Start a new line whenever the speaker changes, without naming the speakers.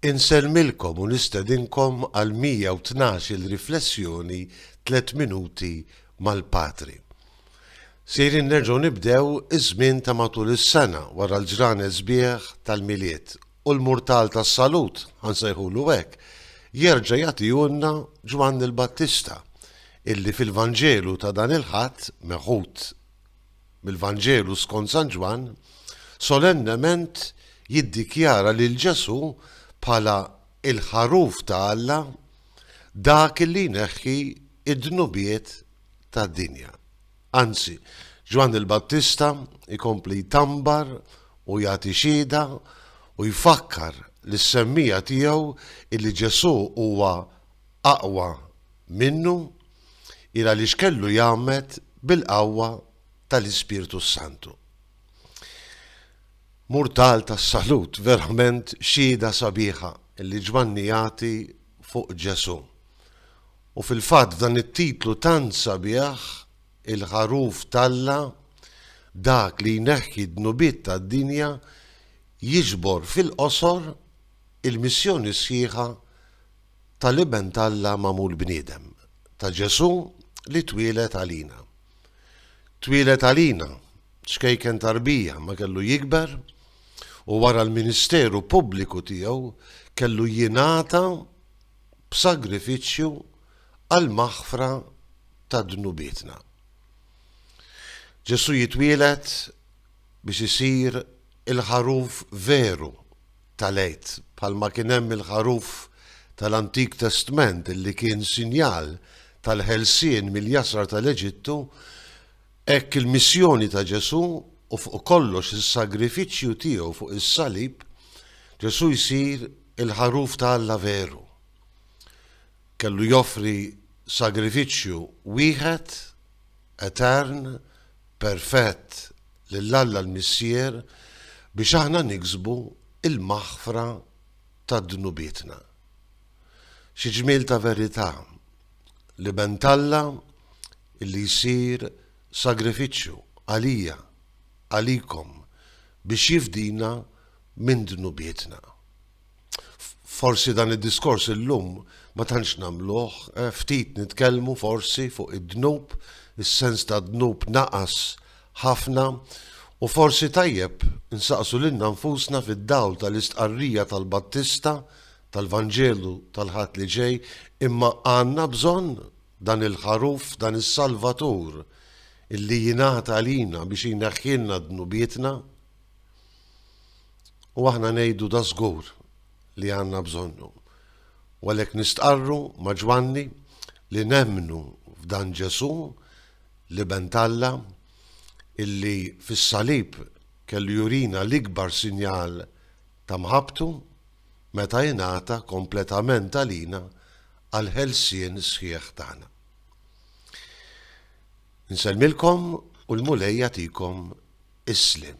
Insellmilkom u nistedinkom għal 112-il riflessjoni Tliet Minuti mal-Patri. Sejrin nerġgħu nibdew iż-żmien ta' matul is-sena wara l-ġranet sbieħ tal-Milied u l-murtal tas-Salut, ħa nsejħulu hekk, jerġa' jagħtihulna Ġwanni l-Battista, illi fil-Vanġelu ta' dan il-Ħadd, meħud mill-Vanġelu skont San Ġwann, solennement jiddikjara lil Ġesù bħala l-Ħaruf ta' Alla, dak li jneħħi d-dnubiet tad-dinja. Anzi, Ġwann il-Battista jkompli jtambar u jagħti xhieda u jfakkar lis-semmiegħa tiegħu li Ġesù huwa aqwa minnu hi għaliex kellu jgħammed bil-qawwa tal-Ispirtu s-Santu. Murtal tas-salut, verament xhieda sabiħa li Ġwanni jagħti fuq Ġesù. U fil-fatt f'dan it-titlu tant sabiħ, il-Ħaruf t'Alla, dak li jneħħi d-dnubiet tad-dinja, jiġbor fil-qosor il-missjoni sħiħa ta' l-Iben t'Alla magħmul bniedem, ta' Ġesù li twieled għalina. Twieled għalina, ċkejken ta' rbija, ma kellu jikber u wara l-ministeru pubbliku tiegħu kellu jingħata b'sagrifiċċju għall-maħfra ta' dnubietna. Ġesù jitwieled biex isir il-ħaruf veru tal-Għid, bħalma kien hemm il-ħaruf tal-Antik Testment li kien sinjal tal-ħelsien mill-jasar tal-Eġittu, hekk il-missjoni ta' Ġesù u fuq kollox is-sagrifiċċju tiegħu fuq is-salib, Ġesù jsir il-ħaruf ta' Alla veru. Kellu joffri sagrifiċċju wieħed etern, perfett lil Alla l-Missier biex aħna niksbu l-maħfra ta' dnubietna. Xi ġmiel ta' verità! L-Iben t'Alla li jsir sagrifiċċju għalija, għalikom, biex jifdina minn dnubietna. Forsi dan id-diskors illum ma tantx nagħmluh, eh, ftit nitkellmu forsi fuq id-dnub, is-sens ta' dnub naqas ħafna u forsi tajjeb insaqsu lilna nfusna fid-dawl tal-istqarrija tal-Battista tal-Vanġelu tal-Ħadd li ġej imma għandna bżonn dan il-ħaruf, dan is-Salvatur illi jingħata għalina biex jneħħilna dnubietna. U aħna ngħidu da żgur li għandna bżonnu. U għalhekk nistqarru ma' Ġwanni li nemmnu f'dan Ġesù, l-Iben t'Alla, illi fis-salib kellu jurina l-ikbar sinjal ta' mħabbtu meta ingħata kompletament għalina għall-ħelsien sħiħ tagħna. Insellmilkom u l-Mulej jagħtikom is-sliem.